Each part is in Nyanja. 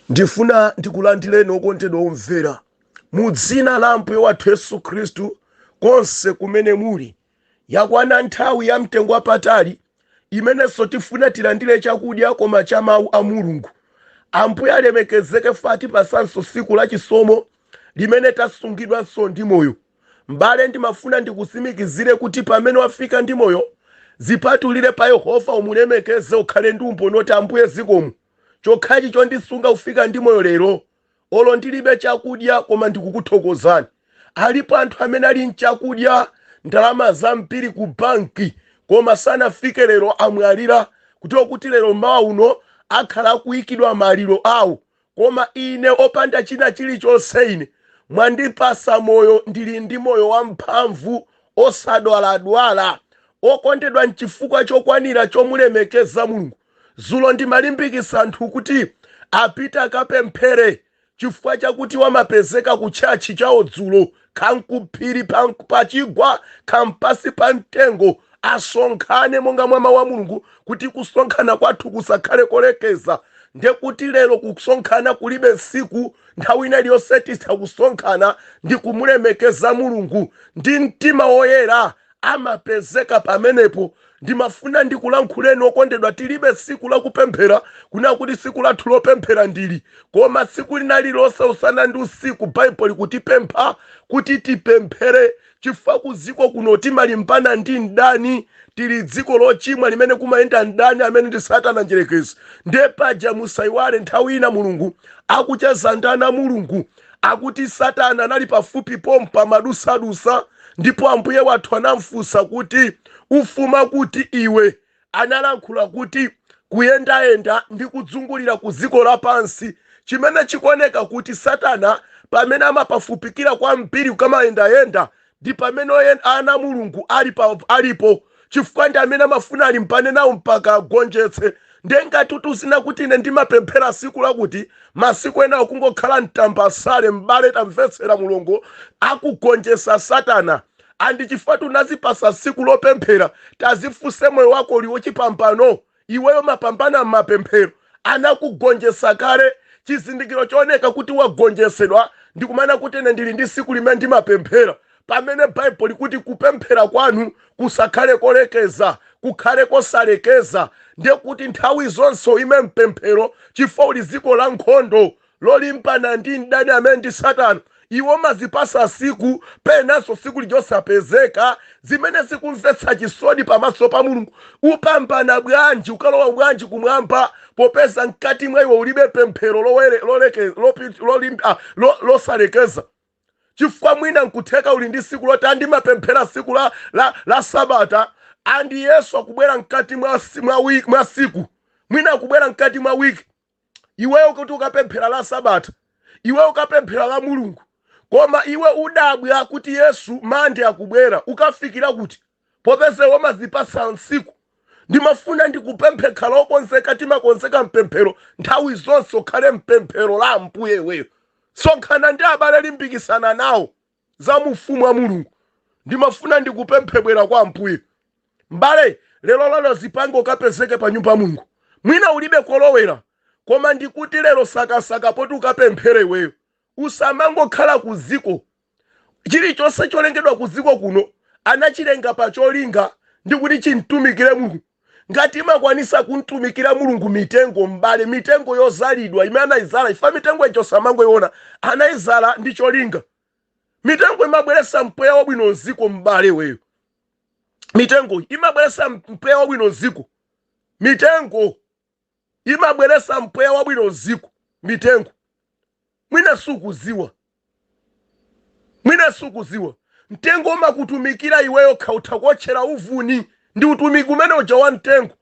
ndifuna ndikulandireni okondedwa omvera mu dzina la ambuye wathu yesu khristu konse kumene muli yakwana nthawi ya mtengo wapatali imenenso tifuna tilandire chakudya koma cha mawu a mulungu ambuye alemekezeke watipasanso siku la chisomo limene tasungidwanso ndi moyo m'bale ndimafuna ndikusimikizire kuti pamene wafika ndi moyo zipatulire pa yehova umulemekeze ukhale ndi umboni oti ambuye zikomo chokhachi chondisunga kufika ndi moyo lero olo ndilibe chakudya koma ndikukuthokozani alipo anthu amene ali nchakudya ndalama zambiri ku banki koma sanafike lero amwalira kuti lero mawa uno akhala akuyikidwa maliro awo koma ine opanda china chilichonse ine mwandipasa moyo ndili ndi moyo wamphamvu osadwaladwala okondedwa nchifukwa chokwanira chomulemekeza mulungu Dzulo ndimalimbikitsa anthu kuti apite akapemphere chifukwa chakuti amapezeka ku tchalitchi chawo dzulo kaya nkuphiri pachigwa kaya mpansi pa mtengo asonkhane monga mwa mau a Mulungu kuti kusonkhana kwathu kusakhale kolekeza ndekuti lero kusonkhana kulibe tsiku nthawi ina iliyonse titha kusonkhana ndikumulemekeza Mulungu ndi mtima woyera amapezeka pamenepo. Ndimafuna ndikulankhuleni, okondedwa, tiribe tsiku la kupemphera, kunena kuti tsiku lathu lopemphera ndi ili. Koma tsiku lina lililonse, usana ndi usiku, Baibulo likutipempha kuti tipemphere, chifukwa ku dziko kuno timalimbana ndi mdani. Tiri m'dziko lochimwa limene kumayenda mdani amene ndi Satana Mdyerekezi. Ndiye paja musaiwale nthawi ina Mulungu akucheza ndi ana a Mulungu, akuti satana anali pafupi pompo amadusadusa ndipo ambuye wathu anamfunsa kuti ukufuma kuti iwe analankhula kuti kuyendayenda ndi kuzungulira ku dziko lapansi chimene chikuoneka kuti satana pamene amapafupikira kwambiri kukamayendayenda ndi pamene ana a mulungu alipo chifukwa ndi amene amafuna alimbane nawo mpaka agonjetse nde ngati ukuziona kuti ine ndimapemphera siku lakuti masiku enawo kungokhala mtambasale m'bale tamvetsera mulungu akugonjesa satana andi chifukwa choti unazipasa siku lopemphera tazifunse moyo wako uli wochipambano iweyo umapambana mmapemphero anakugonjetsa kale chizindikiro chooneka kuti wagonjetsedwa ndikumanena kuti ine ndili ndi siku limene ndimapemphera pamene baibulo likuti kupemphera kwanu kusakhale kolekeza kukhale kosalekeza ndiye kuti nthawi zonse uime mpemphero chifukwa uli mdziko la nkhondo lolimbana ndi mdani amene ndi Satana. Iwe umazipatsa tsiku penanso tsiku lija osapezeka, zimene zikumvetsa chisoni pamaso pa Mulungu. Upambana bwanji, ukalowa bwanji kumwamba popeza mkati mwa iwe ulibe pemphero lowere- loleke- lopi- lolim- ah, lo- losalekeza? chifukwa mwina nkutheka uli ndi tsiku loti ndimapemphera tsiku la, la, la sabata andi yesu akubwera mkati mwa, si- mwa, wi- mwa siku mwina akubwera mkati mwa wiki iweyo ukuti ukapemphera la sabata iwe ukapemphera la mulungu koma iwe udabwa kuti yesu mande akubwera ukafikira kuti popeza iwe umazipatsa tsiku ndimafuna ndikupemphe khala okonzeka timakonzeka mpemphero nthawi zonse ukhale mpemphero la ambuye iweyo sonkhana ndi abale limbikisana nawo za mu Ufumu wa Mulungu. Ndimafuna ndikupemphe bwera kwa Ambuye. M'bale, lero lino zipange ukapezeke pa nyumba ya Mulungu. Mwina ulibe kolowera, koma ndikuti lero sakasaka poti ukapemphere iweyo. Usamangokhala ku dziko. Chilichonse cholengedwa ku dziko kuno anachilenga pa cholinga ndi kuti chimtumikire Mulungu. ngati imakwanisa kumtumikira mulungu mitengo m'bale mitengo yozalidwa imene anaizala ija mitengo ijo usamangoiona anaizala ndi cholinga mitengo imabweresa mpweya wabwino mziko m'bale iweyo mitengo imabweresa mpweya wabwino mziko mitengo imabweretsa mpweya wabwino mdziko, mitengo. Mwina sukudziwa. Mwina sukudziwa. Mtengo umakutumikira iweyo, ukha utha kuotchera uvuni. Ndi utumiki umene uja wa mtengo.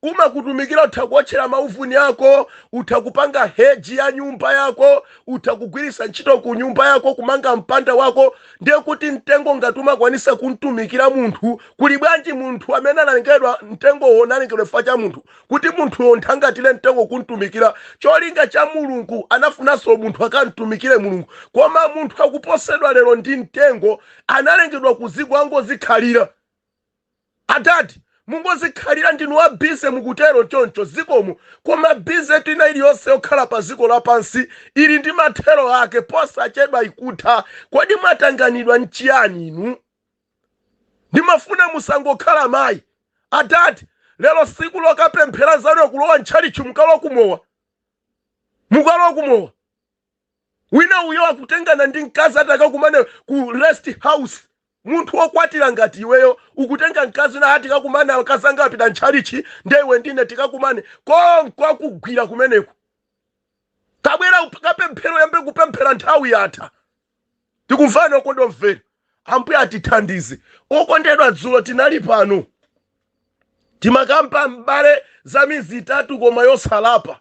Umakutumikira, utha kuotchera mauvuni ako, utha kupanga heji ya nyumba yako, utha kugwiritsa ntchito ku nyumba yako, kumanga mpanda wako. Ndiye kuti mtengo ngati umakwanisa kumtumikira munthu, kuli bwanji munthu amene analengedwa, mtengowo unalengedwa chifukwa cha munthu, kuti munthuyo umthangatire mtengo kumtumikira cholinga cha mulungu anafunanso munthu akamtumikire mulungu koma munthu akuposedwa lero ndi mtengo analengedwa kuziko angozikhalira atati mungozikhalira ndinu wa bize mukutero choncho zikomo koma bizetu ina iliyonse yokhala pa ziko lapansi ili ndi mathero ake posachedwa ikutha kodi mwatanganidwa nchiyani inu ndimafuna musangokhala mayi adadi lero siku lokapemphera anzanu akulowa ntchalitchi mukalowa kumowa mukalowa kumowa wina uyo akutengana ndi mkazi ati akakumane ku rest house munthu wokwatira ngati iweyo ukutenga mkazi wina ati tikakumane akazanga apita ntchalitchi nde iwe ndine tikakumane konko akugwira kumeneko tabwera kapemphere yamba kupemphera nthawi yatha tikuvana okondedwa omvera ambuye atithandize okondedwa dzulo tinali pano timakamba m'bale za midzi itatu koma yosalapa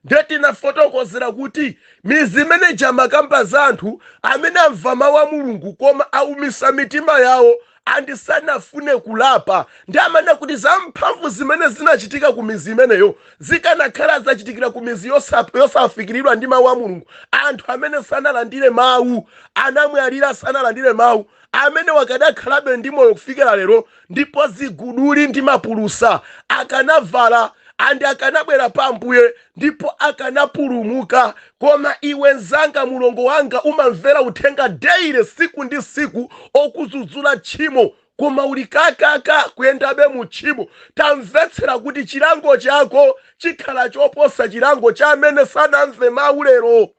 nde tinafotokozera kuti midzi imene ija imakamba za anthu amene amva mawu a mulungu koma aumisa mitima yawo and sakufuna kulapa ndiye amanena kuti zamphamvu zimene zinachitika ku midzi imeneyo zikanakhala zitachitikira ku midzi yosa- yosafikiridwa ndi mawu a mulungu anthu amene sanalandire mawu anamwalira sanalandire mawu amene wakadakhalabe ndi moyo kufikira lero ndipo ziguduli ndi mapulusa akanavala and akanabwera pa ambuye ndipo akanapulumuka koma iwe nzanga mulongo wanga umamvera uthenga daily siku ndi siku okudzudzula tchimo koma uli kakaka kuyendabe mu tchimo tamvetsera kuti chilango chako chikhala choposa chilango cha amene sanamve mau lero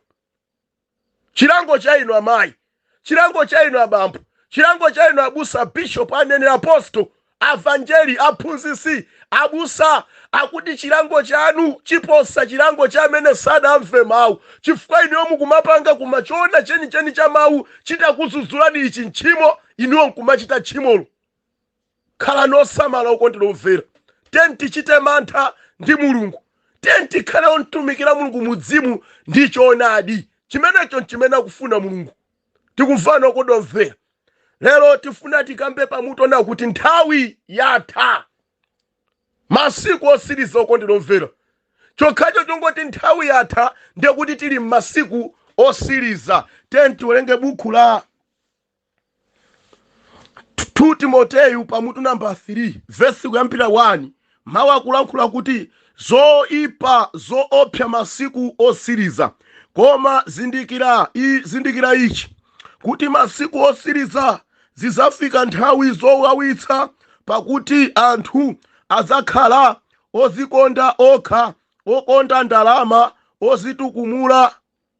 chilango cha inu amayi chilango cha inu abambo chilango cha inu abusa bishop aneneri aposto avanjeli aphunzitsi abusa akuti chilango chanu chiposa chilango cha amene sadamve mawu chifukwa inuyo mukumapanga koma choona chenicheni cha mawu chitakudzudzulani ichi ntchimo inuyo nkumachita tchimolo khalani osamala okondedwa omvera tiyeni tichite mantha ndi mulungu tiyeni tikhale omtumikira mulungu mu mzimu ndi choonadi chimenecho nchimene akufuna mulungu tikumvana okondedwa omvera lero tifuna tikambe pamutu onena kuti nthawi yatha masiku osiriza okondedwa omvera chokhacho chongoti nthawi yatha ndiye kuti tili m'masiku osiriza tiyeni tiwerenge buku la 2 timoteyu pamutu namba 3 vesi kuyambira 1 mawu akulankhula kuti zoipa zoopsa masiku osiriza koma zindikira i- zindikira ichi kuti masiku osiriza zizafika nthawi zowawitsa pakuti anthu azakhala ozikonda okha okonda ndalama ozitukumula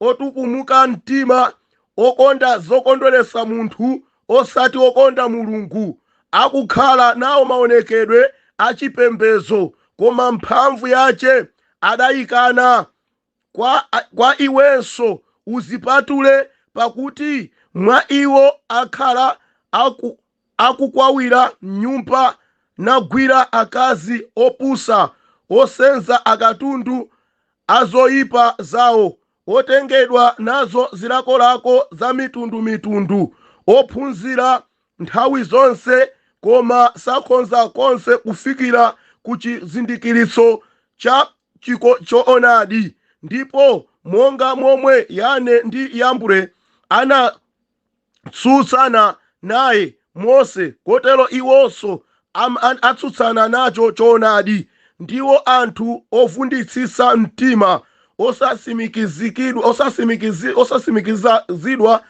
otukumuka mtima, okonda zokondweretsa munthu osati okonda Mulungu, akukhala nao maonekedwe a cipembedzo, koma mphamvu yace adaikana. Kwa, kwa iwenso udzipatule, pakuti mwa iwo akhala aku, akukwawira m'nyumba, nagwira akazi opusa, osenza akatundu a zoipa zao, otengedwa nazo zilakolako zamitundumitundu, ophunzira nthawi zonse, koma sakhonza konse kufikira ku chizindikiritso cha choonadi, ndipo monga momwe Yane ndi Yambre ana atsutsana naye Mose, kotero iwonso atsutsana nacho choonadi. Ndiwo anthu ovunditsitsa mtima, osasimikizidwa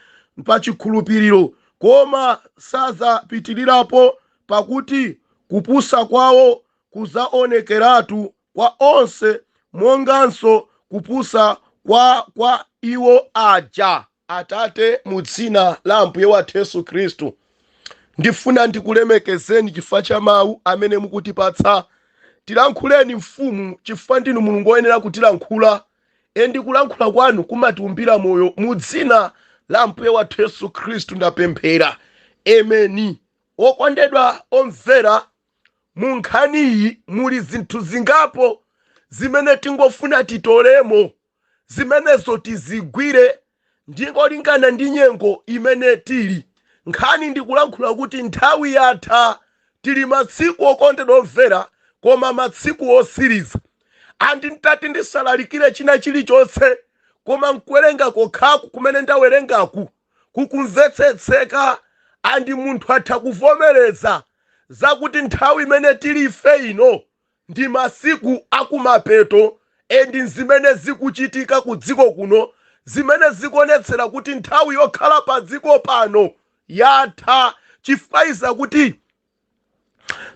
pa chikhulupiriro, koma sadzapitirirapo, pakuti kupusa kwawo kudzaonekeratu kwa onse, monganso kupusa kwa kwa iwo aja. Atate, mu Dzina la Ambuye wathu Yesu Khristu, ndifuna ndikulemekezeni chifukwa cha Mawu amene mukutipatsa. Tilankhuleni, Mfumu, chifukwa Ndinu Mulungu woyenera kutilankhula, endi kulankhula Kwanu kumatiumbira moyo. Mu Dzina la Ambuye wathu Yesu Khristu ndapemphera. Ameni. Okondedwa omvera Mu nkhaniyi muli zinthu zingapo zimene tingofuna titolemo, zimenezo tizigwire ndingolingana ndi nyengo imene tili. Nkhani ndikulankhula kuti nthawi yatha. Tili masiku okondedwa omvera koma masiku osiliza. And ntati ndisalalikire china chilichonse koma nkuwerenga kokhaku kumene ndawerengaku. kukumvetsetseka and munthu atha kuvomereza zakuti nthawi imene tili ife ino ndi masiku akumapeto and zimene zikuchitika ku dziko kuno zimene zikuonetsera kuti nthawi yokhala pa dziko pano yatha chifukwa ndi zakuti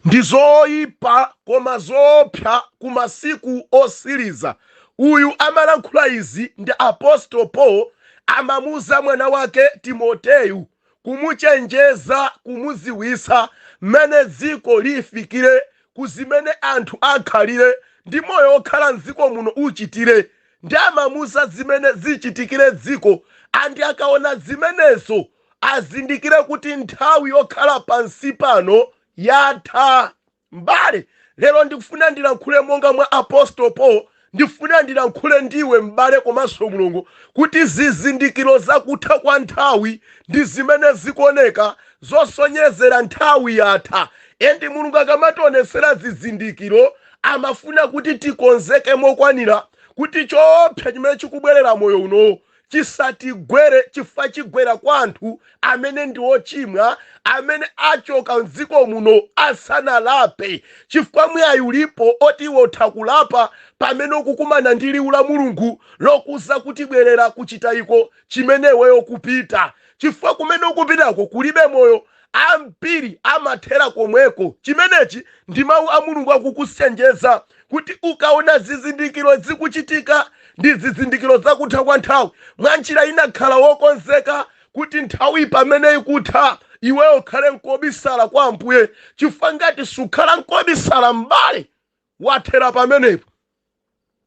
ndi zoyipa koma zoopsa ku masiku osiliza uyu amalankhula izi ndi apostolo paul amamuuza mwana wake timoteyu kumuchenjeza kumuziwisa mmene dziko lifikire ku zimene anthu akhalire ndi moyo okhala mdziko muno uchitire ndi amamuuza zimene zichitikire dziko andi akaona zimenezo azindikire kuti nthawi yokhala pansi pano yatha m'bale lero ndifuna ndilankhule monga mwa apostolo paul ndifuna ndilankhule ndiwe m'bale komanso mulongo kuti zizindikiro zakutha kwa nthawi ndi zimene zikuoneka zosonyezera nthawi yatha endi mulungu akamationesera zizindikiro amafuna kuti tikonzeke mokwanira kuti choopsa chimene chikubwerera moyo uno chisatigwere chifukwa chigwera kwa anthu amene ndi ochimwa amene achoka mdziko muno asanalape chifukwa mwayi ulipo oti iwe utha kulapa pamene ukukumana ndi liwu la mulungu lokuuza kuti bwerera kuchitayiko chimene iweyo kupita chifukwa kumene ukupitako kulibe moyo Ambiri amathera komweko. Chimenechi ndi mau a Mulungu akukuchenjeza kuti ukaona zizindikiro zikuchitika ndi zizindikiro za kutha kwa nthawi mwa njira ina khala wokonzeka kuti nthawi pamene ikutha iweyo ukhale nkobisala kwa Ambuye chifukwa ngati sukhala nkobisala m'bale wathera pamenepo.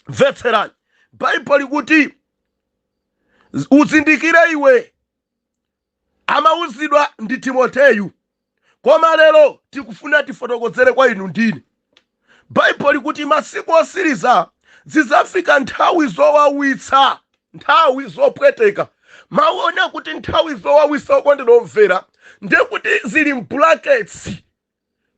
Mvetserani. Baibulo likuti uzindikire iwe amauzidwa ndi Timoteyu. Koma lero tikufuna tifotokozere kwa inu ndine. Baibulo likuti masiku otsiriza zidzafika nthawi zowawitsa, nthawi zopweteka. Mau onena kuti nthawi zowawitsa okondedwa omvera ndekuti zili m'bulaketsi.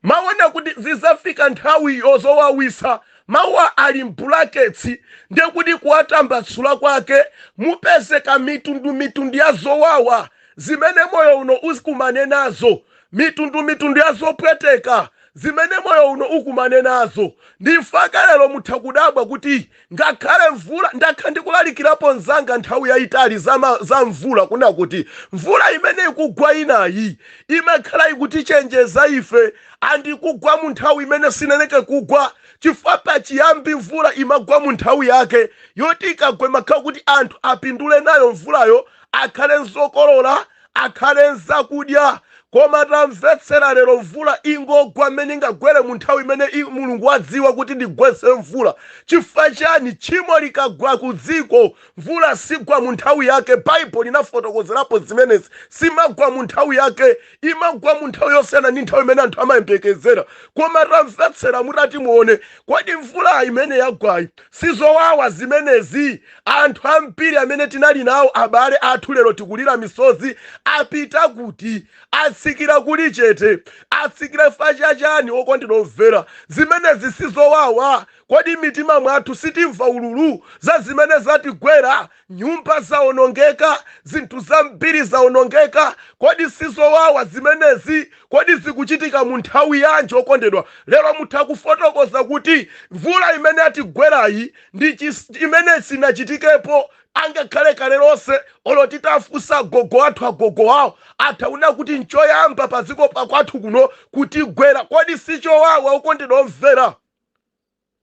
Mawu onena kuti zidzafika nthawi yozowawitsa, mawuwa ali m'bulaketsi, ndiye kuti kuwatambasula kwake mupezeka mitundumitundu ya zowawa zimene moyo uno ukumane nazo, mitundumitundu ya zopweteka zimene moyo uno ukumane nazo. Ndi mpaka lero mutha kudabwa kuti Ngakhale mvula, ndakhala ndikulalikirapo mzanga nthawi yaitali za ma, za mvula, kunena kuti, Mvula imene ikugwa inayi, imakhala ikutichenjeza ife, and ikugwa mu nthawi imene siyeneka kugwa, chifukwa pachiyambi mvula imagwa mu nthawi yake, yoti ikagwa imakhala kuti anthu apindule nayo mvulayo, akhale nzokolola, akhale nzakudya koma tamvetsera lero mvula ingogwa mmene ingagwere mu nthawi imene i- mulungu wadziwa kuti ndigwetse mvula chifukwa chani tchimo likagwa ku dziko mvula sigwa mu nthawi yake baibulo linafotokozerapo zimenezi simagwa mu nthawi yake imagwa mu nthawi yosiyana ndi nthawi imene anthu amayembekezera koma tamvetsera mutati muone kodi mvula imene yagwayi Si zowawa zimenezi? Anthu ambiri amene tinali nawo abale athu lero tikulira misozi apita kuti? Atsikira kuli chete. Atsikira chifukwa cha chani okondedwa omvera? Zimenezi si zowawa? Kodi m'mitima mwathu sitimva ululu za zimene zatigwera? Nyumba zawonongeka, zinthu zambiri zawonongeka. Kodi si zowawa zimenezi? Kodi zikuchitika mu nthawi yanji, okondedwa? Lero mutha kufotokoza kuti, Mvula imene yatigwerayi ndi chi, imene sinachitikepo angakhale kale lonse. Olo titafunsa agogo athu, agogo awo, atha kunena kuti n'choyamba padziko pa kwathu kuno kutigwera. Kodi si chowawa, okondedwa omvera?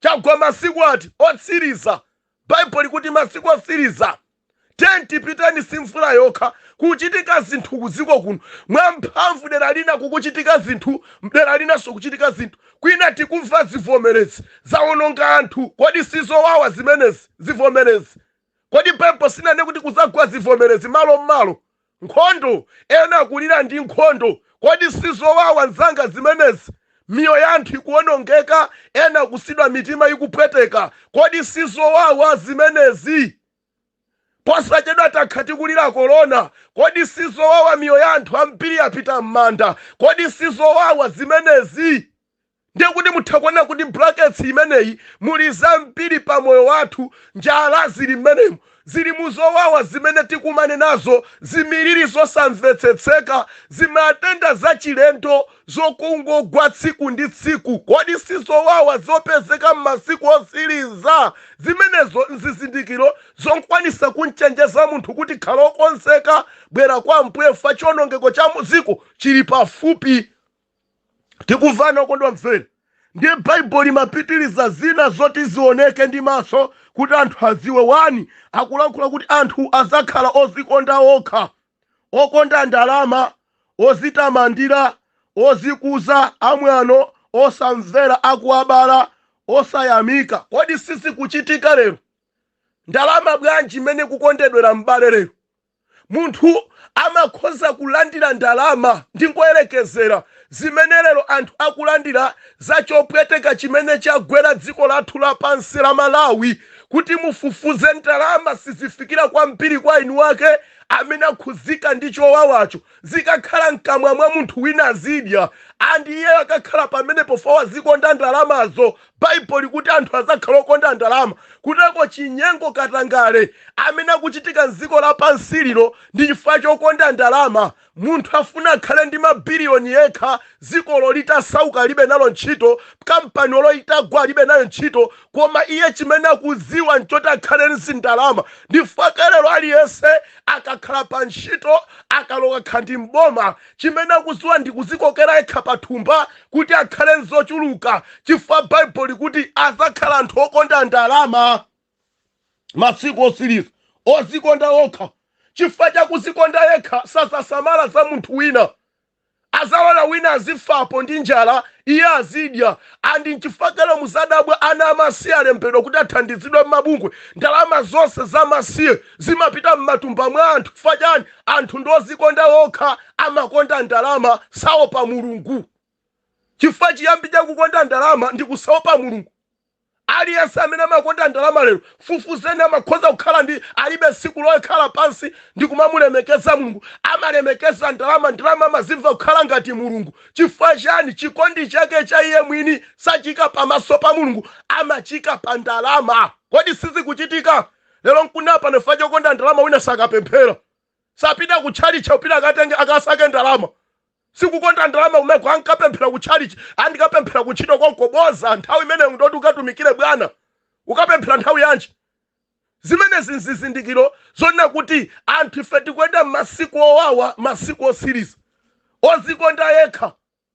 Chagwa masiku ati otsiliza bible likuti masiku otsiliza tipiteni si mvula yokha kuchitika zinthu kuziko kuno mwamphamvu dera lina kukuchitika zinthu mdera linaso kuchitika zinthu kwina tikumva zivomelezi zawononga anthu kodi sizowawa zimenezi zivomelezi kodi bible sinanene kuti kuzagwa zivomelezi malo mmalo nkhondo, ena kulira ndi nkhondo. Kodi si zowawa nzanga zimenezi? Miyoyo ya anthu ikuwonongeka, ena kusidwa mitima ikupweteka. Kodi si zowawa zimenezi? Posachedwa takhala tikulira corona. Kodi si zowawa miyoyo ya anthu ambiri yapita mmanda? Kodi si zowawa zimenezi? Ndiye kuti mutha kuona kuti brackets imeneyi muli zambiri pa moyo wathu, njala zili mmenemu, zili mu zowawa zimene tikumane nazo, zimiliri zosamvetsetseka, zimatenda zachilendo zokungogwa tsiku ndi tsiku. Kodi si zowawa zopezeka m'masiku otsiriza? Zimenezo n'zizindikiro zokwanitsa kum'chenjeza munthu kuti, Khala wokonzeka, bwera kwa Ambuye, chifukwa chiwonongeko cha mu dziko chili pafupi. tikumvana okondwa mvera ndiye baibulo limapitiriza zina zoti zioneke ndi maso kuti anthu aziwe wani akulankhula kuti anthu azakhala ozikonda okha okonda ndalama ozitamandira ozikuza amwano osamvera akuwabala osayamika kodi sizikuchitika lero ndalama bwanji imene kukondedwera m'bale lero Munthu amakhoza kulandira ndalama, ndingoyerekezera, zimene lero anthu akulandira za chopweteka chimene chagwera dziko lathu lapansi la Malawi, kuti mufufuze ndalama sizifikira kwambiri kwa eni wake amene akhudzika ndi chowawacho. Zikakhala mkamwa mwa munthu wina azidya, and iyeyo akakhala pamenepo fa wazikonda ndalamazo Bible likuti anthu azakhala okonda ndalama kuteko chinyengo katangale amene akuchitika mziko la pansi lino ndi chifukwa chokonda ndalama munthu afuna akhale ndi ma billion yekha ziko olo litasauka alibe nalo ntchito kampani olo itagwa alibe nayo ntchito koma iye chimene akudziwa nchoti akhale ndi ndalama ndifukwa chake lero aliyense akakhala pa ntchito akaloka khandi mboma Chimene akuziwa ndi kuzikokera yekha pathumba kuti akhale nzochuluka chifukwa Bible likuti azakhala anthu okonda ndalama masiku osiliza. Ozikonda okha. Chifukwa chakuzikonda yekha sazasamala za munthu wina. Azalola wina azifa apo ndi njala iye azidya and nchifukwa chake lero muzadabwa ana amasiye alembedwa kuti athandizidwe mmabungwe. Ndalama zonse za amasiye zimapita mmatumba mwa anthu chifukwa chani? anthu ndi ozikonda okha amakonda ndalama saopa mulungu chifukwa chiyambi chakukonda ndalama ndi kusaopa mulungu aliyense amene amakonda ndalama lero fufuzeni amakhoza kukhala ndi alibe tsiku lokhala pansi ndi kumamulemekeza mulungu amalemekeza ndalama ndalama amazimva kukhala ngati mulungu chifukwa chani chikondi chake cha iye mwini sachika pamaso pa mulungu amachika pa ndalama kodi sizikuchitika lero nkunena pano chifukwa chokonda ndalama wina sakapemphera sapita ku chalichi akupita akatenge akasake ndalama sikukonda ndalama kumeko mkapemphera ku chalichi aa ndikapemphera ku ntchito konko boza nthawi imeneyo ndoti ukatumikire bwana ukapemphera nthawi yanji zimenezi nzizindikiro zonena kuti anthu ife tikuyenda m'masiku owawa masiku osiriza ozikonda yekha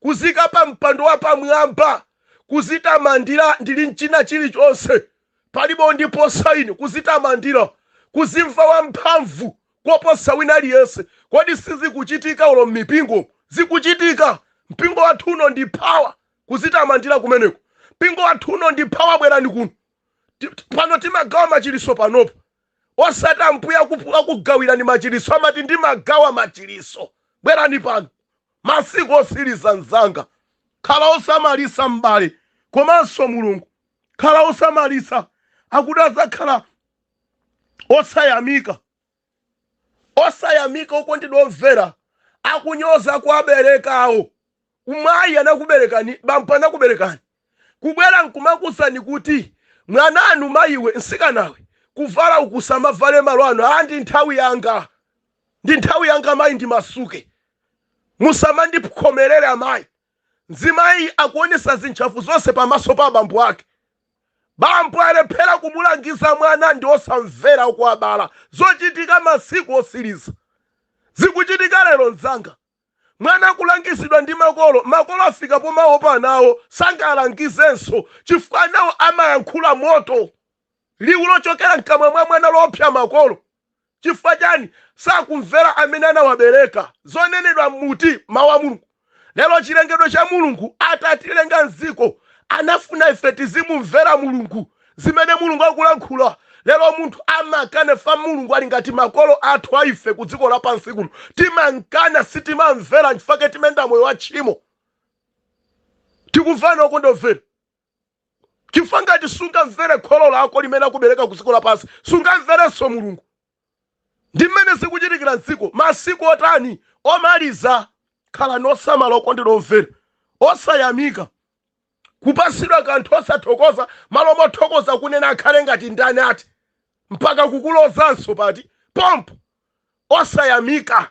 kuzika pa mpando wa pamwamba, kuzitamandira ndi mchina chilichonse, palibe ondiposa ine, kuzitamandira, kuzimva wamphamvu koposa wina aliyense. Kodi sizikuchitika olo m'mipingomu? Zikuchitika. Mpingo wathu uno ndi power, kuzitamandira kumeneko. Mpingo wathu uno ndi power, bwerani kuno. Ti- ti- Pano timagawa machiliso panopo. Osati ambuye akupu- akugawirani machiliso, amati ndimagawa machiliso. Bwerani pano. Masiku otsiliza mzanga. Khala osamalitsa m'bale komanso mlongo khala osamalitsa akuti adzakhala osayamika osayamika okondedwa omvera akunyoza akuwabereka awo amayi anakuberekani bambo anakuberekani. kubwera nkumakuuzani kuti mwananu mayiwe mtsikanawe kuvala uku usamavale malo ano aa ndi nthawi yanga ndi nthawi yanga mayi ndimasuke musamandikhomerere amayi mzimayi akuonesa zintchafu zonse pamaso pa bambo ake bambo alephera kumulangiza mwana ndi osamvera akuwabala zochitika masiku osiriza zikuchitika lero mzanga Mwana kulangizidwa ndi makolo, makolo afika pomaopa ana awo, sangalangizenso chifukwa anawo amayankhula moto. Liwu lochokera mkamwa mwa mwana loopsya makolo. Chifukwa chani? Sakumvera amene anawabereka. Zonenedwa mmuti, Mawu a Mulungu. Lero chilengedwe cha Mulungu atatilenga mdziko anafuna ife tizimumvera Mulungu. zimene Mulungu akulankhula lero munthu amakana chifukwa Mulungu ali ngati makolo athu a ife ku dziko lapansi kuno timamkana sitimamvera nchifake timayenda moyo wa tchimo tikumvana okondedwa omvera chifukwa ngati sungamvere kholo lako limene lakubereka ku dziko lapansi sungamverenso Mulungu ndi mmene zikuchitikira m'dziko masiku otani omaliza. Khalani osamala, okondedwa omvera, osayamika, kupatsidwa kanthu, osathokoza, malo mothokoza kunena akhale ngati ndani ati, mpaka kukulozanso pati? Pompo osayamika.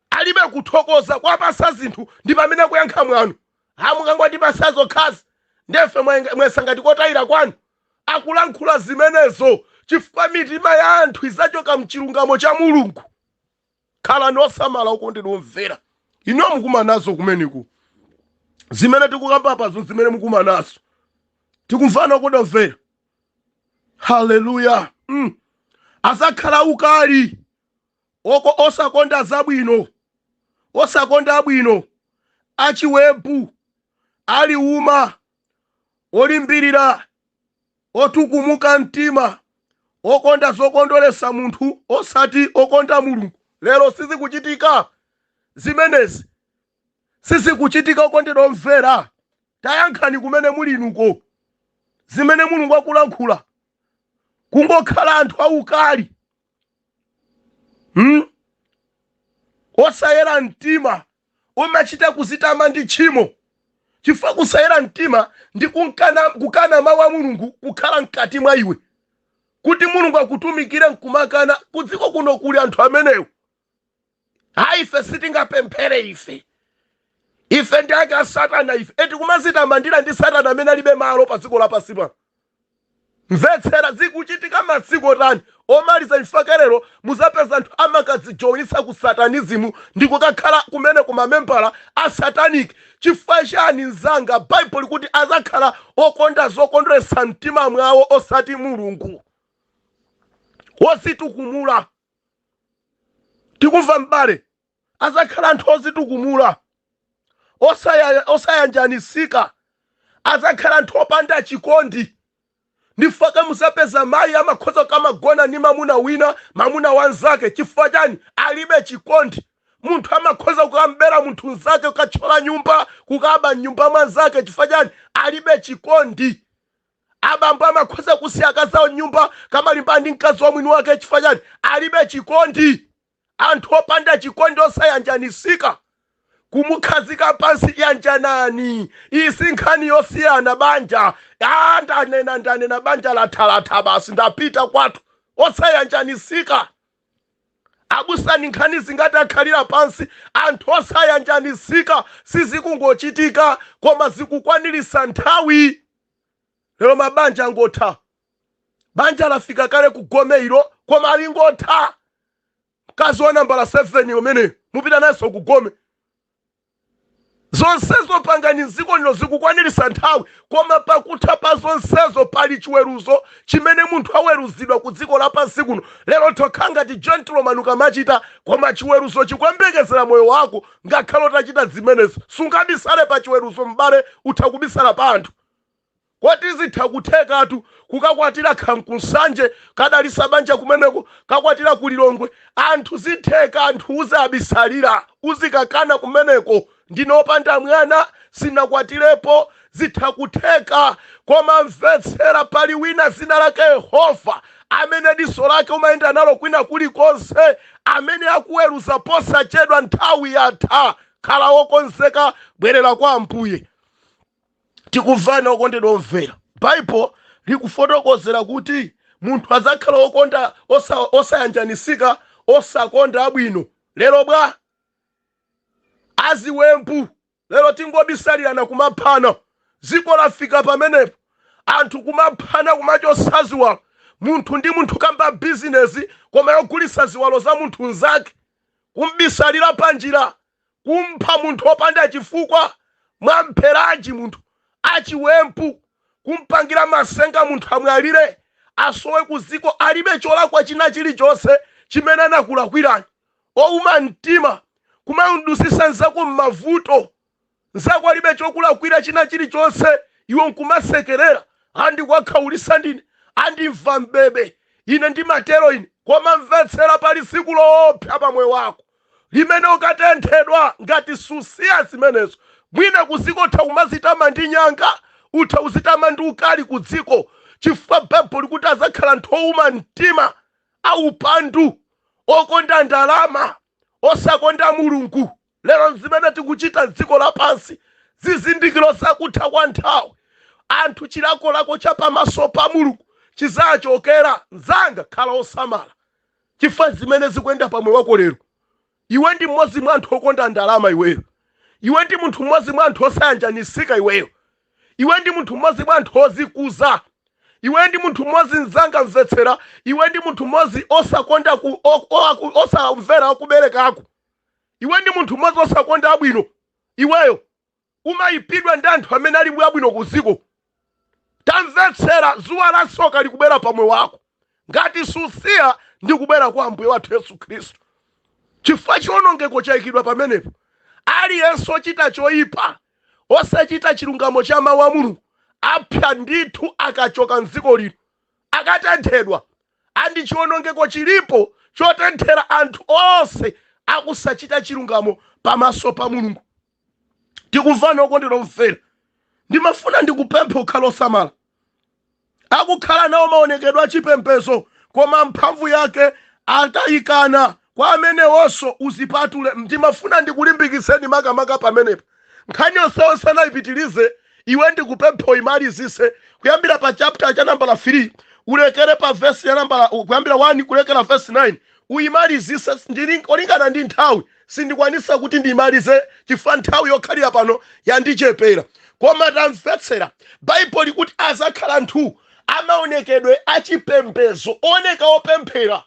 alibe kuthokoza kwapasa zinthu ndi pamene kuyankha mwano a mukungotipasa zokhazi ndefe mwesa ngati kotayira kwanu akulankhula zimenezo chifukwa mitima ya anthu izachoka mchilungamo cha mulungu khalani osamala okondedwa omvera inu mukumanazo kumeneko zimene tikukamba pazo zimene mukumanazo tikumvana okondedwa omvera haleluya mm. azakhala aukali oko osakonda zabwino osakonda abwino achiwembu aliuma olimbirira otukumuka mtima okonda zokondweretsa munthu osati okonda mulungu lero sizikuchitika zimenezi sizikuchitika okondedwa omvera tayankhani kumene muli inuko zimene mulungu akulankhula kungokhala anthu aukali hmm? osayera mtima umachita kuzitama ndi tchimo chifukwa kusayera mtima ndi kukana mawu a mulungu kukhala mkati mwa iwe kuti mulungu akutumikire nkumakana kudziko kuno kuli anthu amenewo ayi ife sitingapemphere ife ife ndi ake a satana ife eti kumazitamandira ndi satana amene alibe malo pa dziko lapansi pano mvetsera zikuchitika masiku otani omaliza chifukwa chake lero muzapeza anthu amakadzijoinitsa ku satanizimu ndi kukakhala kumeneko mamembala a satanic chifukwa chani mzanga baibulo likuti azakhala okonda zokondweretsa mtima mwawo osati mulungu wozitukumula tikumva m'bale azakhala anthu ozitukumula osaya- osayanjanisika azakhala anthu opanda chikondi nchifukwa chake muzapeza mayi amakhoza kumagona ndi mamuna wina mamuna wanzake chifukwa chani alibe chikondi munthu amakhoza kukam'bera munthu nzake kukatchola nyumba kukaba mnyumba mwanzake chifukwa chani alibe chikondi Abambo amakhoza kusiya akazi awo m'nyumba, kumalimbana ndi mkazi wa mwini wake chifukwa chani? Alibe chikondi. Anthu opanda chikondi osayanjanisika. Kumukhazika pansi yanjanani. Iyi si nkhani yosiyana banja. Aaa ndanena ndanena banja latha latha basi ndapita kwathu. Osayanjanisika. Abusa ndi nkhani zingati akhalira pansi anthu osayanjanisika sizikungochitika koma zikukwanilisa nthawi. lero mabanja angotha banja lafika kale ku gome ilo koma lingotha mkazi wa nambala 7 umene mupita nawonso ku gome zonsezo pangani mdziko lino zikukwanirisa nthawi koma pakutha pa zonsezo pali chiweruzo chimene munthu aweruzidwa ku dziko lapansi kuno lero tokha ngati gentleman ukamachita koma chiweruzo chikuyembekezera moyo wako Ngakhale utachita zimenezo, sungabisale pa chiweruzo m'bale, utha kubisala pa anthu. Koti zitha kuthekatu kukakwatira kaya ku Nsanje, kadalisa banja kumeneko, kakwatira ku Lilongwe, anthu zitheka anthu uzawabisalira, uzikakana kumeneko, ndine opanda mwana, sinakwatirepo, Zitha kutheka koma mvetsera pali wina dzina lake Yehova amene diso lake umayenda nalo kwina kulikonse amene akuweruza posachedwa nthawi yatha khala wokonzeka bwerera kwa Ambuye tikumvana okondedwa omvera Bible likufotokozera kuti munthu adzakhala wokonda osayanjanisika osakonda abwino lero bwa aziwembu Lero tingobisalirana kumaphana dziko lafika pamenepo anthu kumaphana kumachotsa ziwalo munthu ndi munthu kamba business koma yogulitsa ziwalo za munthu mzake kum'bisalira panjira kumpha munthu opanda chifukwa mwampheranji munthu achiwembu kumpangira masenga munthu amwalire asowe kudziko alibe cholakwa china chilichonse chimene anakulakwirani. ouma mtima, kumamdusisa mzako mmavuto, mzako alibe chokulakwira china chilichonse iwe nkumasekerera, ah ndikuwakhaulisa ndine, andimva m'bebe ine ndimatero ine, koma mvetsera pali tsiku loopsa pa moyo wako limene ukatenthedwa ngati susiya zimenezo, mwina kudziko utha kumazitama ndi nyanga, utha kuzitama ndi ukali kudziko chifukwa Bible likuti adzakhala anthu ouma mtima. aupandu, okonda ndalama, osakonda Mulungu. Lero zimene tikuchita m'dziko lapansi, zizindikiro za kutha kwa nthawi. Anthu, chilakolako cha pamaso pa Mulungu chidzachokera. Mnzanga, khala wosamala chifukwa zimene zikuyenda pa moyo wako lero. Iwe ndi mmodzi mwa anthu okonda ndalama iweyo. Iwe ndi munthu mmodzi mwa anthu osayanjanitsika iweyo. Iwe ndi munthu mmodzi mwa anthu ozikuza. Iwe ndi munthu mmodzi mzanga mvetsera, iwe ndi munthu mmodzi osakonda ku o- o- aku- osamvera akubereka ako. Iwe ndi munthu mmodzi osakonda abwino iweyo. umayipidwa ndi anthu amene ali abwino ku dziko. Tamvetsera, dzuwa la tsoka likubwera pa moyo wako ngati susiya ndi kubwera kwa Ambuye wathu Yesu Khristu. Chifukwa chiwonongeko chayikidwa pamenepo. Aliyense ochita choyipa, osachita chilungamo cha mawu a Mulungu, apsa ndithu akachoka m'dziko lino, akatenthedwa. Andi chiwonongeko chilipo chotenthera anthu onse akusachita chilungamo pamaso pa Mulungu. tikumvana okondedwa omvera ndimafuna ndikupempha ukhale osamala akukhala nawo maonekedwe achipembezo koma mphamvu yake atayikana kwa amenewonso uzipatule ndimafuna ndikulimbikitseni makamaka pamenepo nkhani yonseyonse sindiyipitiriza iwe ndikupempha uyimalizise kuyambira pa chapter cha nambala 3 ulekere pa vesi ya nambala kuyambira 1 kulekera vesi 9 uyimalizise molingana ndi nthawi sindikwanisa kuti ndimalize chifukwa nthawi yokhalira pano yandichepera koma tamvetsera Baibulo likuti azakhala anthu amaonekedwe achipembezo oneka opemphera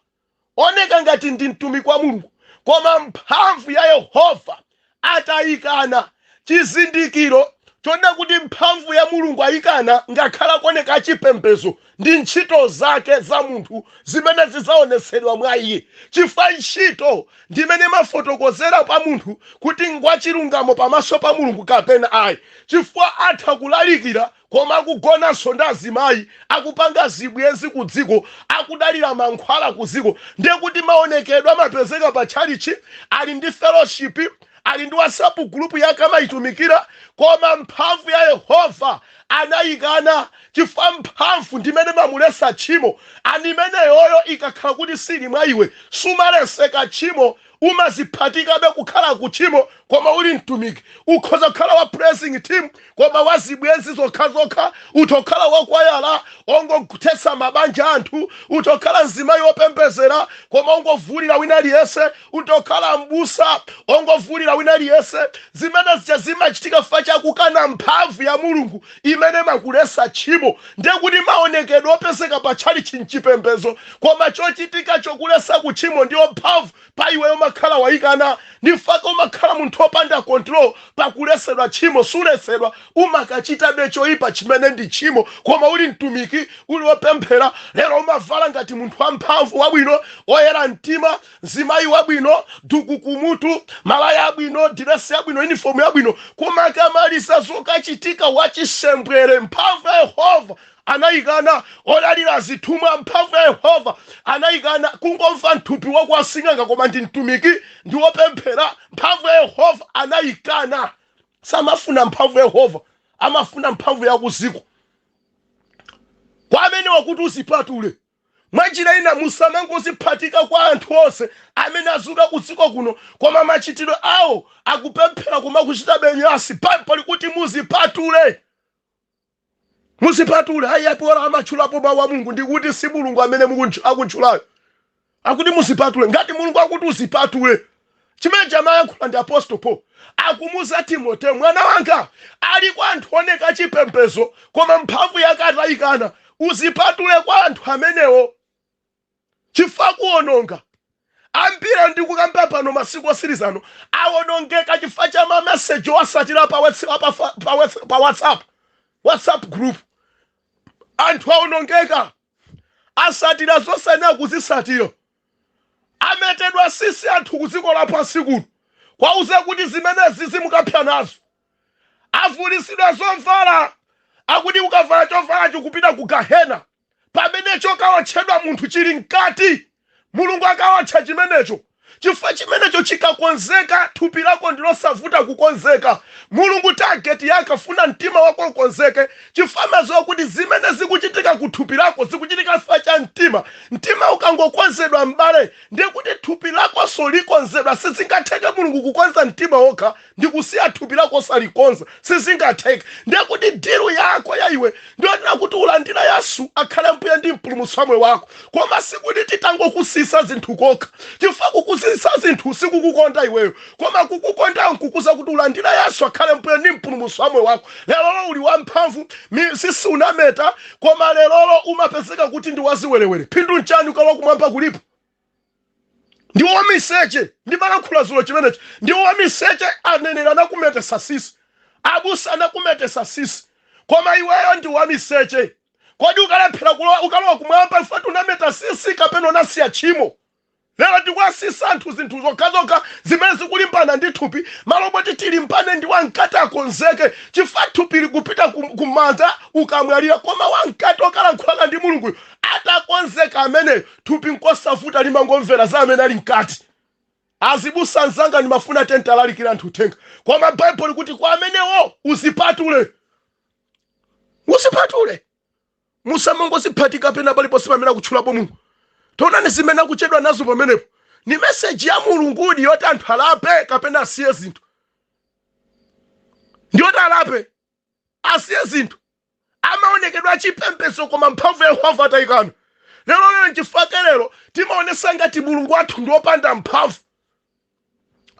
oneka ngati ndi mtumiki wa mulungu koma mphamvu ya yehova atayikana Chizindikiro choona kuti mphamvu ya Mulungu ayikana ngakhale akuoneka achipembezo ndi ntchito zake za munthu zimene zidzaonetsedwa mwa iye, chifukwa ntchito ndi imene imafotokozera pa munthu kuti ngwachilungamo pamaso pa Mulungu kapena ayi, chifukwa atha kulalikira koma akugonanso ndi azimayi, akupanga zibwenzi ku dziko, akudalira mankhwala ku dziko, ndiye kuti maonekedwe amapezeka pa tchalitchi, ali ndi fellowship, ali ndi WhatsApp group yake amaitumikira, koma mphamvu ya Yehova anaikana chifukwa mphamvu ndimene imamuletsa tchimo and imeneyoyo ikakhala kuti sili mwa iwe sumaleseka tchimo umaziphatikabe kukhala ku tchimo koma uli mtumiki ukhoza kukhala wa praising team koma wa zibwenzi zokhazokha utha kukhala wakwayala ongothetsa mabanja anthu utha kukhala mzimayi wopembezera koma ongovulira wina aliyese utha kukhala mbusa ongovulira wina aliyese zimene zija zimachitika fa chakukana mphamvu ya mulungu imene imakulesa tchimo ndiye kuti maonekedwe opezeka pa tchalitchi m'chipembezo koma chochitika chokulesa ku tchimo ndiyo mphamvu pa iweyo umakhala waikana ndifake umakhala munthu opanda control pakulesedwa tchimo sulesedwa umakachitabe choipa chimene ndi tchimo koma uli mtumiki uli opemphera lero umavala ngati munthu wamphamvu wabwino oyera mtima Mzimayi wabwino, duku kumutu, malaya abwino, diresi yabwino, yunifomu yabwino, koma akamaliza zokachitika, wachisembwere. Mphamvu ya Yehova anaikana. Odalira zithumwa, mphamvu ya Yehova anaikana. Kungomva mthupi wa kwa sing'anga koma ndi mtumiki ndi wopemphera, mphamvu ya Yehova anaikana. Samafuna mphamvu ya Yehova, amafuna mphamvu ya kudziko. Kwa amenewa akuti uzipatule, Mwanjira ina musamangoziphatika kwa anthu onse amene azuka kudziko kuno koma machitidwe awo akupemphera koma akuchitabe nyansi Baibulo likuti muzipatule. Muzipatule ayi apo bola amatchulapo mawu a Mulungu ndikuti si Mulungu amene mukuntch- akutchulayo. Akuti muzipatule ngati Mulungu akuti uzipatule chimene amayankhula ndi apostol paul akumuza timoteo mwana wanga ali kwa anthu oneka chipembezo koma mphamvu yake atayikana uzipatule kwa anthu amenewo chifukwa akuononga ambiri ndikukamba pano masiku otsirizano awonongeka chifukwa cha mameseji osatira pa, what's- pa, pa, pa, what's- pa whatsapp whatsapp group anthu awonongeka asatira zosayenera kuzisatira ametedwa sisi anthu kuziko lapansi kuno kuwauza kuti zimenezi zizi mukapsa nazo avulisidwa zovala akuti ukavala chovalacho ukupita ku gahena pamene chokawotchedwa munthu chili mkati Mulungu akawotcha chimenecho, chifukwa chimenecho chikakonzeka, thupi lako ndi losavuta kukonzeka. Mulungu target yake afuna mtima wako ukonzeke, chifukwa amadziwa kuti zimene zikuchitika ku thupi lako zikuchitika chifukwa cha mtima. Mtima ukangokonzedwa m'bale, ndiye kuti thupi lakonso likonzedwa. Sizingatheke Mulungu kukonza mtima wokha. ndikusiya thupi lako osalikonza sizingatheke ndiye kuti dilu yako ya iwe ndiyonena kuti ulandire yesu akhale mbuye ndi mpulumutsi wa moyo wako koma sikuti titangokusiyisa zinthu kokha chifukwa kukusiyisa zinthu sikukukonda iweyo koma kukukonda nkukuuza kuti ulandire yesu akhale mbuye ndi mpulumutsi wa moyo wako lerolo uli wamphamvu mi- sisi unameta koma lerolo umapezeka kuti ndi waziwerewere phindu nchani ukalowa kumwamba kulipo ndi wamiseche ndimalankhula zulo chimenechi ndi wamiseche aneneri anakumetesa sisi abusa anakumetesa sisi koma iweyo ndi wamiseche kodi ukalephera kulowa ukalowa kumwamba chifa choti unameta sisi kapena unasiya tchimo lero tikuwasiyisa anthu zinthu zokhazokha zimene zikulimbana ndi thupi malo moti tilimbane ndi wamkati akonzeke chifukwa thupi likupita ku- kumanda ukamwalira koma wamkati okalankhulana ndi mulunguyo atakonzeka ameneyo Thupi nkosavuta limangomvera za amene ali mkati. Azibusa anzanga ndimafuna tizilalikira anthu uthenga. Koma Baibulo likuti kwa amenewo uzipatule. Uzipatule. Musamangoziphatika pena paliponse pamene akutchulapo Mulungu. Taonani zimene akuchedwa nazo pamenepo. Ni meseji ya Mulungudi yoti anthu alape kapena asiye zinthu. Ndiyoti alape. asiye zinthu amaonekedwa achipembedzo koma mphamvu ya yehova atayikana lero lero nchifukwa chake lero timaonesa ngati mulungu wathu ndi wopanda mphamvu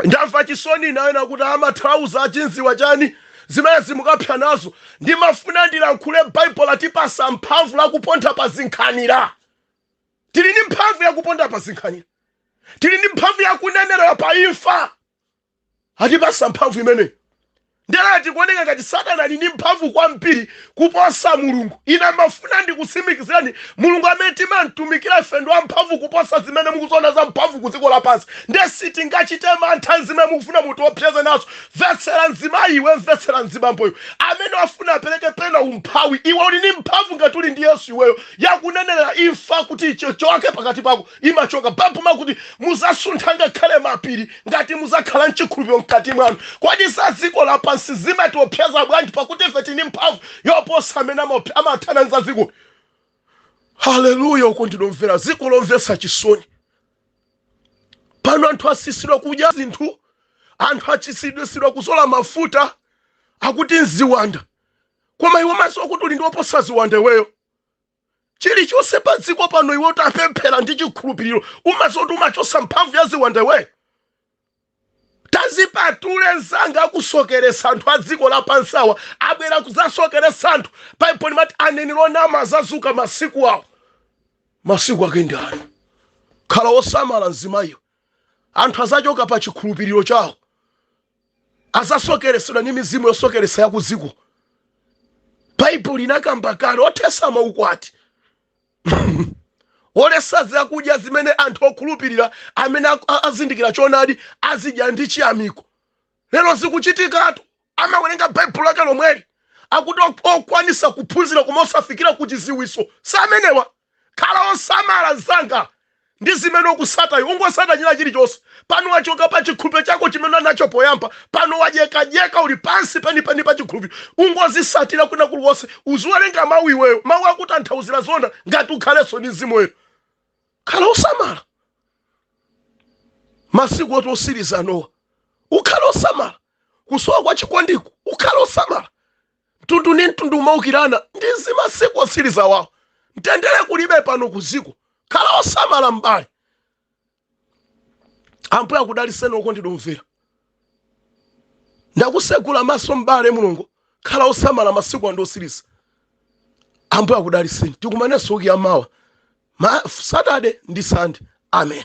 ndamva chisoni nayo nakuti amathandauza chizindikiro chani zimene zimukapsa nazo ndimafuna ndilankhule baibulo latipasa mphamvu yakuponda pa zinkhanira tili ndi mphamvu yakuponda pa zinkhanira tili ndi mphamvu yakunenerera pa imfa atipasa mphamvu imeneyi nde lero zikuoneka ngati satana ali ndi mphamvu kwambiri kuposa mulungu ine ndimafuna ndikusimikizireni mulungu amene timamtumikira ife ndi wamphamvu kuposa zimene mukuziona za mphamvu ku dziko lapansi nde sitingachite mantha zimene mukufuna mutiopseze nazo mvetsera mzimayi iwe mvetsera mzibambowe amene wafuna apereke pena umphawi iwe uli ndi mphamvu ngati uli ndi yesu iweyo yakunenerera imfa kuti ichoke pakati pako imachoka. Baibulo limakuti muzasuntha ngakhale mapiri ngati muzakhala mchikhulupiriro mkati mwanu. Kodi za dziko lapansi zimatiopseza bwanji pakuti ife tili ndi mphamvu yoposa amene amathana ndi za dziko? Haleluya! Okondedwa omvera, dziko lomvetsa chisoni. Pano anthu asisidwa kudya zinthu, anthu asisidwa kuzola mafuta akuti nziwanda. Koma iwe umaziwa kuti uli ndi oposa ziwanda iweyo. chilichonse pa dziko pano iwe utapemphera ndi chikhulupiriro umaziwa zoti umachosa mphamvu ya ziwanda iweyo tazipatule mzanga akusokeresa anthu a dziko lapansi awa abwera kudzasokeresa anthu baibulo limati aneneri onama azazuka masiku awo masiku ake ndi ano khala wosamala mzimayi iwe anthu azachoka pa chikhulupiriro chawo azasokeresedwa ndi mizimu yosokeresa ya kuziko baibulo linakamba kale othesa maukwati olesa zakudya zimene anthu okhulupirira amene ak- a- azindikira choonadi azidya ndi chiyamiko lero zikuchitikatu amawerenga baibulo lake lomweli akuti ok- okwanisa kuphunzira koma osafikira ku chiziwiso amenewa Khala osamala mzanga ndi zimene ukusata iwe. Ungosata china chilichonse. Pano wachoka pa chikhulupiriro chako chimene unali nacho poyamba. Pano wadyekadyeka uli pansi penipeni pa chikhulupiriro. Ungosatira kwina kulikonse. Uziwerenga mau iweyo. Mau akutanthauzira zoona ngati ukhalenso ndi Mzimu Woyera. Khala osamala masiku oti otsiriza anowa. Ukhale osamala. Kusowa kwa chikondiku ukhale osamala. mtundu ndi mtundu umaukirana ndi zimasiku otsiriza awa mtendere kulibe pano kuziko khala osamala m'bale ambuye akudaliseni okondedwa omvera ndakusegula maso m'bale mulungu khala osamala masiku ano ndi otsiriza ambuye akudaliseni tikumanenso wiki yamawa ma saturday ndi sunday amen